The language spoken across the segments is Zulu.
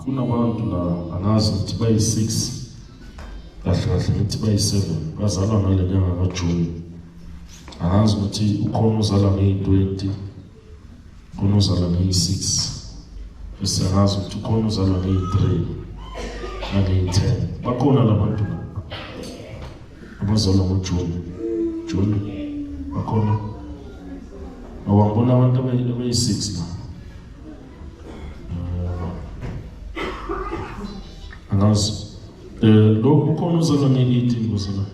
kunabantu la angazi ukuthi bayi-six kahle kahle ngithi bayi-seven bazalwa ngale nyanga kajuni angazi ukuthi ukhona uzalwa ngeyi-twenty khona uzalwa ngeyi-six siyangazi ukuthi ukhona uzalwa ngeyi-three nangeyi-ten bakhona la bantu abazalwa ngojuni juni bakhona awangibona abantu abeyi-six la angazi um eh, lokhu ukhona uzalwa ngeyi-eighteen kuzalayo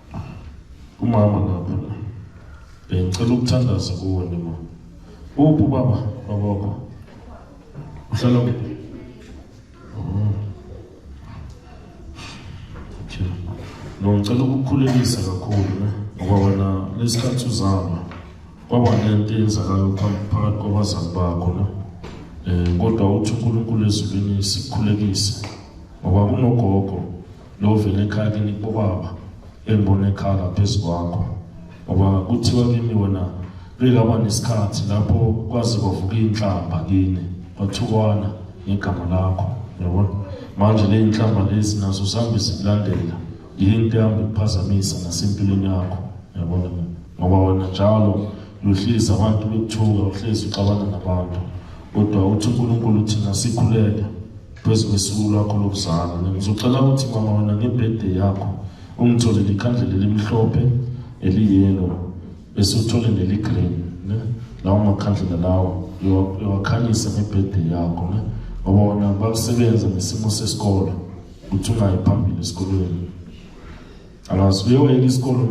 Umama ngapha la. Bengicela ukuthandaza kuwe nima. Uphi baba babakho? Uhlala kuphi? Oh. Okay. No ngicela ukukhulekisa kakhulu ne ngoba wena lesikhathi uzalwa kwaba nento eyenzakalayo phambi- phakathi kwabazali bakho ne um kodwa uthi unkulunkulu ezulwini sikhulekise ngoba kunogogo Lovela ekhaya kini kobaba engibona ekhala phezu kwakho ngoba kuthiwa kimi wena bekaba nesikhathi lapho kwazi kwavuka inhlamba kini kwathukwana ngegama lakho yabona manje le inhlamba lezi nazo zihambe zikulandela yinto ehambe kuphazamisa nasempilweni yakho yabona ngoba wena njalo uyohlezi abantu bekuthuka uhlezi uxabana nabantu kodwa uthi uNkulunkulu thina sikhuleke phezu kwesuku lwakho lokuzalwa ngizocela ukuthi mama wena ngebirthday yakho ungitholele ikhandlela elimhlophe eliyelo bese uthole neligreen ne lawo makhandlela lawo yowakhanyisa ngebirthday yakho ne ngoba wona bakusebenza ngesimo sesikole ukuthi ungayi phambili esikolweni alazi uyoyeka isikole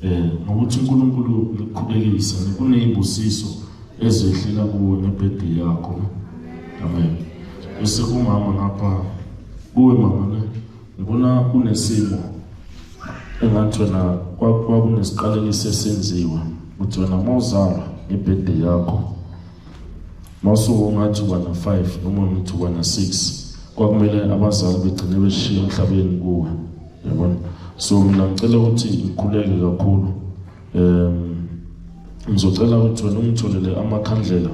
Eh, nokuthi uNkulunkulu ukuqhubekisa kuney'busiso ezehlela kuwo nebhedi yakho amen bese kumama ngapha kuwe mama ne ngibona kunesimo engathi wena kwakunesiqalekiso esenziwa ukuthi wena uma uzalwa ngebhedi yakho mawusuke ungathi uba na-five noma ngithi uba na-six kwakumele abazali begcine beshiye emhlabeni kuwe yabona so mina ngicela ukuthi ngikhuleke kakhulu um ngizocela ukuthi wena ungitholele amakhandlela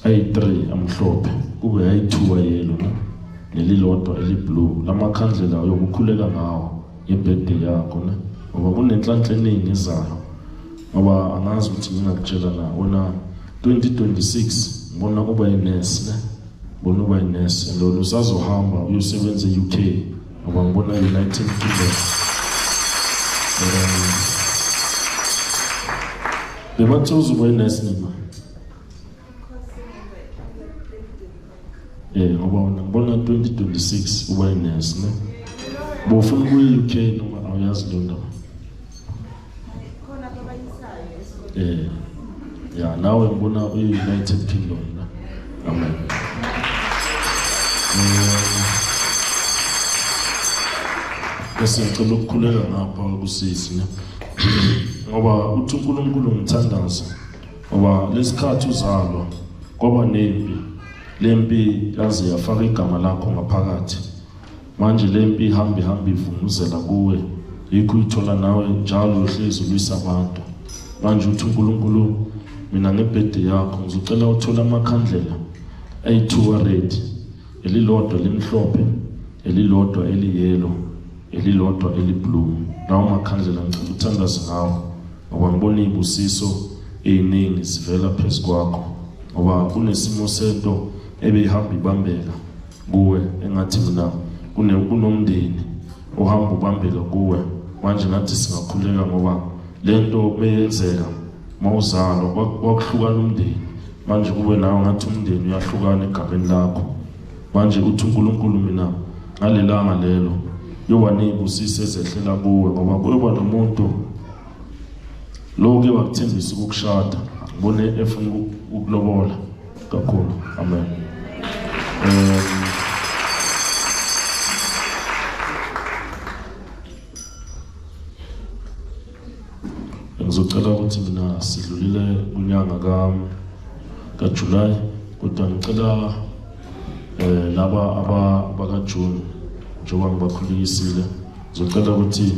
ayi-three amhlophe kube ayi-two ayelo ne nelilodwa eliblue la makhandlela yokukhuleka ngawo yebhede yakho ne ngoba kunenhlanhla eningi ezayo ngoba angazi ukuthi ngingakutshela na wona 2026 ngibona kuba yinesi ne Bona uba inesi lona usazohamba uyosebenza e-UK ngoba ngibona United Kingdom. Um, Bebathe uzoba inesi nima. Eh ngoba wena ngibona 2026 uba inesi ne. Bofuna ukuya e-UK noma awuyazi lento. Eh. Ya nawe ngibona uyi-United Kingdom na. Amen. Bese ngicela ukukhuleka ngapha kusisi ne. Ngoba uthi uNkulunkulu ngithandaza. Ngoba lesikhathi uzalwa kwaba nempi. Lempi yaze yafaka igama lakho ngaphakathi. manje le mpi ihambe ihambe ivunguzela kuwe yikho uyithola nawe njalo uhlezi ulwisa abantu manje uthi unkulunkulu mina ngebhede yakho ngizocela uthole amakhandlela ayi-two ared elilodwa elimhlophe elilodwa eliyelo elilodwa eliblue lawo makhandlela ngicela uthandaze ngawo ngoba ngibona iy'busiso ey'ningi zivela phezu kwakho ngoba kunesimo sento ebeyihamba ibambeka kuwe engathi mina kunomndeni ohamba ubambela kuwe manje ngathi singakhuleka ngoba le nto beyenzeka mawuzalwa kwakuhlukana umndeni manje kube nawe ngathi umndeni uyahlukana egabeni lakho manje uthi unkulunkulu mina ngalelanga lelo yoba ney'busiso ezehlela kuwe ngoba kuyoba nomuntu lowo ke wakuthembisa ukukushada ngibone efuna ukulobola kakhulu amen um, ngizocela ukuthi mina sidlulile kunyanga kajulayi kodwa ngicela um laba abakajuni njengoba ngibakhulekisile ngizocela ukuthi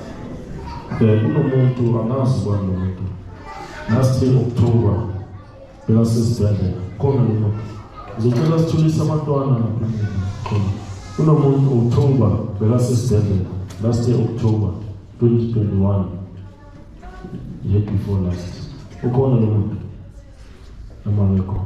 um kunomuntu angazi ubani lo muntu last year october bekasesibhedlela khona lo muntu ngizocela sithulise abantwana kunomuntu october bekasesibhedlela last year october 2021 year before last ukhona lo muntu noma ngekho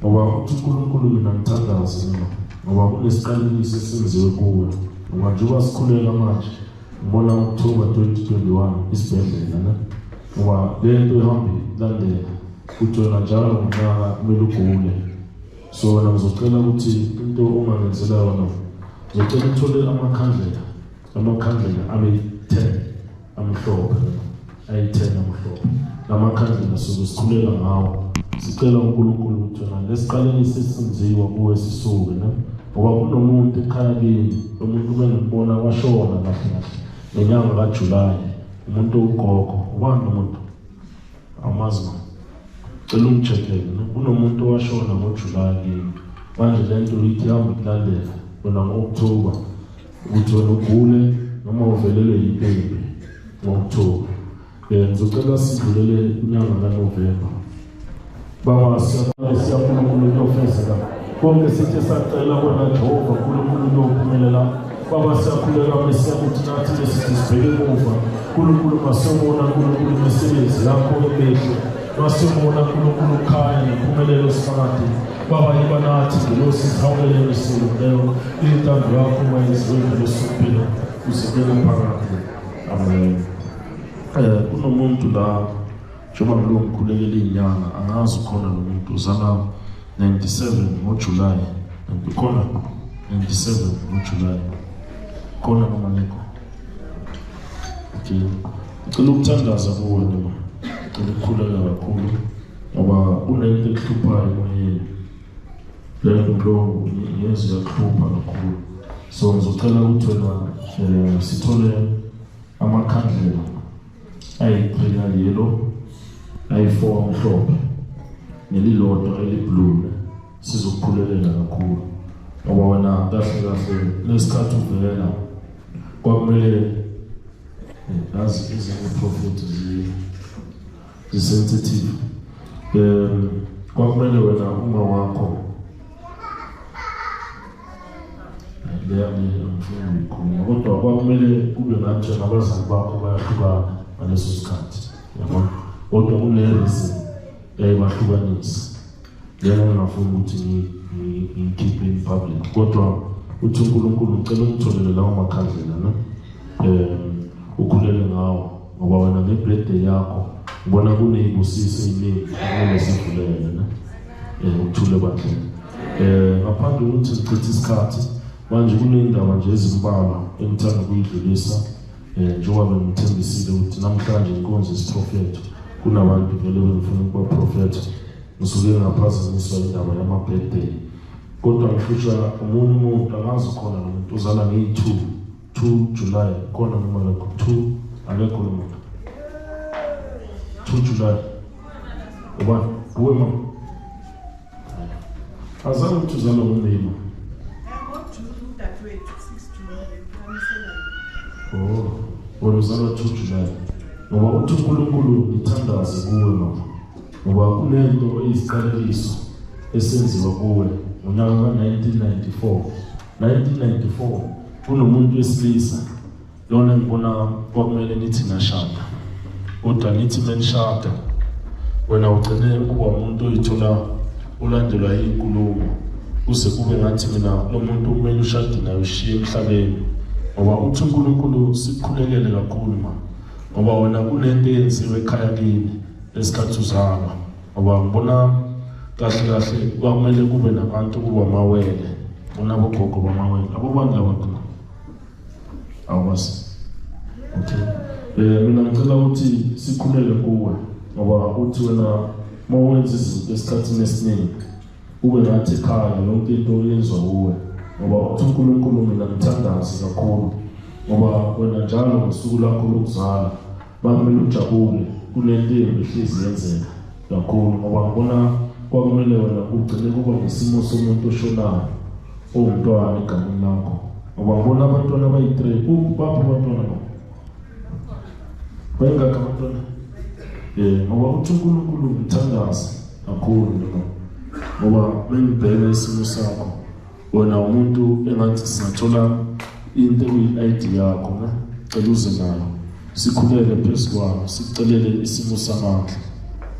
ngoba uthi uNkulunkulu mina ngithandaze mina ngoba kunesiqalekiso esenziwe kuwe ngoba njengoba sikhuleka manje ngibona October 2021 isibhedlela ne ngoba le nto ihambile landela kujona njalo ngonyaka kumele ugule so wena ngizocela ukuthi into uma ngenzela yona ngizocela uthole amakhandlela amakhandlela abe 10 amhlophe ayi-10 amhlophe lamakhandlela suke sikhulela ngawo sicela unkulunkulu ukuthi wena lesiqaleni sisinziwa kuwe sisuke ne ngoba kunomuntu ekhaya kini lo muntu ube ngimbona washona kahle kahle ngenyanga kajulayi umuntu ugogo ubani lo muntu Amazi man. Cela ungicheckele. Kunomuntu owashona ngoJuly kimi. Manje le nto ithi ihamba ikulandela wena ngo-October. Ukuthi wena ugule noma uvelelwe yipembe ngo-October. Um ngizocela sidlulele unyanga kaNovemba. Baba siyabonga siyabonga uNkulunkulu ofezeka. Konke sithe sacela wena Jehova uNkulunkulu ophumelela. Baba siyakhuleka Mesiya ukuthi nathi lesithi sibheke emuva. Nkulunkulu masiyobona Nkulunkulu imisebenzi yakho emihle. Masiyobona Nkulunkulu ukhaya nempumelelo sifakade. Baba yiba nathi ngelosi sihawulele emisilu leyo. Intando yakho mayenziwe ngelosumpilo. Usikele phakade. Amen. Eh kunomuntu la Njengoba kulo ngikhulekela inyanga angazi khona nomuntu uzala 97 ngoJuly khona 97 ngoJuly khona noma ngekho okay ngicela ukuthandaza kuwe noma ngicela ukukhuleka kakhulu ngoba kunento ekuhluphayo emoyeni leyo nto ngiyezwa iyakuhlupha kakhulu so ngizocela ukuthi wena um sithole amakhandlela ayiqhina yellow ayi-four amhlophe nelilodwa eliblue sizokuqhulekela kakhulu ngoba wena kahle kahle lesikhathi uvela kwakumele eh, nazi ezinye profit zisensitive um kwakumele wena uma wakho kodwa kwakumele kube ngathi abazali bakho bayahlukana ngaleso sikhathi yabo kodwa kunereason yayibahlukanisa lena ngingafuni ukuthi ngiyikhiphe in public kodwa uthi unkulunkulu ngicela ungitholele lawo makhandlela ne um ukhulele ngawo ngoba wena ngebirthday yakho ubona kuney'busiso ey'ningi okumele sivulele yena um eh, ukuthule bandleni um eh, ngaphandle kokuthi ngichithe isikhathi manje kuney'ndaba nje ezimbalwa engithanda ukuyidlulisa um eh, njengoba bengithembisile ukuthi namhlanje inkonzo isiprofetho kunabantu vele bengifuna ukubaprofetha ngisuke ngaphazanyiswa indaba yama-birthday kodwa ngifusha omunye umuntu angazi khona nomuntu uzala ngeyi-two 2 July kona noma lokho 2 akekho lo muntu 2 July uba uwe ma azange ukuthi uzalwa ngomlima oh wena uzalwa 2 July ngoba uthi uNkulunkulu ngithandaze kuwe mama ngoba kunento eyiziqalekiso esenziwa kuwe ngonyaka ka-1994 1994 kunomuntu wesilisa lona ngibona kwakumele nithi nashada kodwa nithi menishada wena ugcine ukuba umuntu oyithola ulandelwa yinkulumo kuze kube ngathi mina lo muntu kumele ushade naye ushiye emhlabeni ngoba uthi unkulunkulu sikukhulekele kakhulu ma ngoba wena kunento eyenziwe ekhaya kini lesikhathi uzalwa Ngoba ngibona kahle kahle kwakumele kube nabantu kuba amawele bona bogogo bamawele labo bantu laba khona awubazi okay eh mina ngicela ukuthi sikhulele kuwe ngoba uthi wena uma wenza izinto esikhathini esiningi ube ngathi ekhaya yonke into oyenzwa kuwe ngoba uthi uNkulunkulu mina ngithandazi kakhulu ngoba wena njalo ngosuku lakho lokuzala Kwakumele ujabule kulento embi hlezi yenzeka kakhulu ngoba ngibona kwakumele wena kugcine kuba nesimo somuntu oshonayo owumntwana egameni lakho ngoba ngibona abantwana abayi-three baphi abantwana ba bayingakho abantwana um ngoba uthi unkulunkulu ngithandaze kakhulu noma ngoba bengibheka isimo sakho wena umuntu engathi singathola into eyi-ID yakho ne cela uze nayo sikhulele phezu kwayo sicelele isimo samandla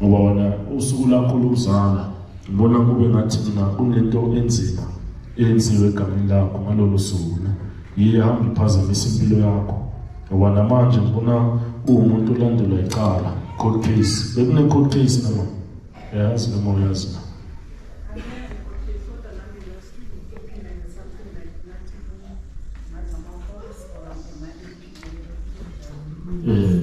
ngoba wena usuku lakho lokuzala ngibona kube ngathi mina kunento enzima eyenziwe egameni lakho ngalolo suku ne yiye hamba iphazamisa impilo yakho ngoba namanje ngibona uwumuntu olandelwa icala court case bekune-court case nama Yazi noma uyazi na. Eh,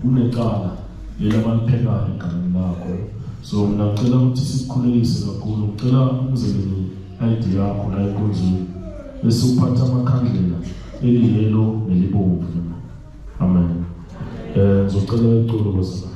kunecala leli abaliphekayo egameni lakho so mina ngicela ukuthi sikukhulelise kakhulu ngicela umzekelo i-id yakho la enkonzweni bese uphatha amakhandlela eliyelo nelibomvu amen um ngizocela iculo kwesibani